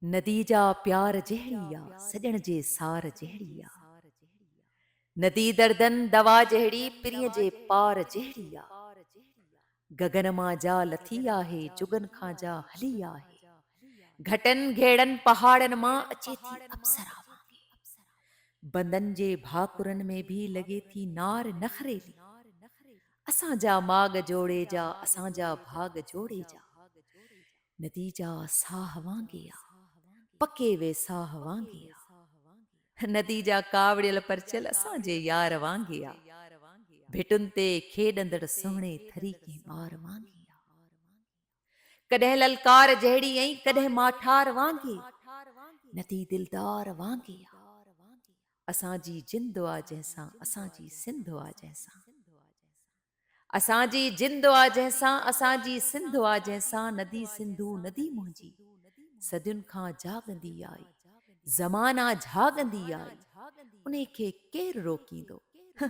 ندي جا پيار جهڙي آ، سڄڻ جي سار جهڙي آ. ندي دردن دوا جهڙي، پرينء جي پار جهڙي آ. گگن مان جا لٿي آهي، جڳن کان جا هلي آهي. گهٽن گهيڙن پهاڙن مان، اچي ٿي اپسرا وانگي. بندن جي ڀاڪرن ۾ به لڳي ٿي نار نخريلي. اسان جا ماڳ جوڙي جا اسان جا ڀاڳ جوڙي جا نديجا ساهه وانگي آ پڪي وي ساهه وانگي آ نديجا ڪاوڙيل پرچيل اسان جي يار وانگي آ ڀٽن تي کيڏندڙ سهڻي ٿري ڪنهن ٻار وانگي آ. ڪڏهن للڪار جهڙي ۽ ڪڏهن ماٺار وانگي ندي دلدار وانگي آ اسان جي جند آ جنهن سان اسان جي سنڌ آ جنهن سان اسان جي جند آ جنهن سان اسان جي سنڌ آ جنهن سان ندي سنڌو ندي منهنجي صدين کان جاڳندي آئي زمانا جهاڳندي آئي انهي کي ڪير روڪيندو هه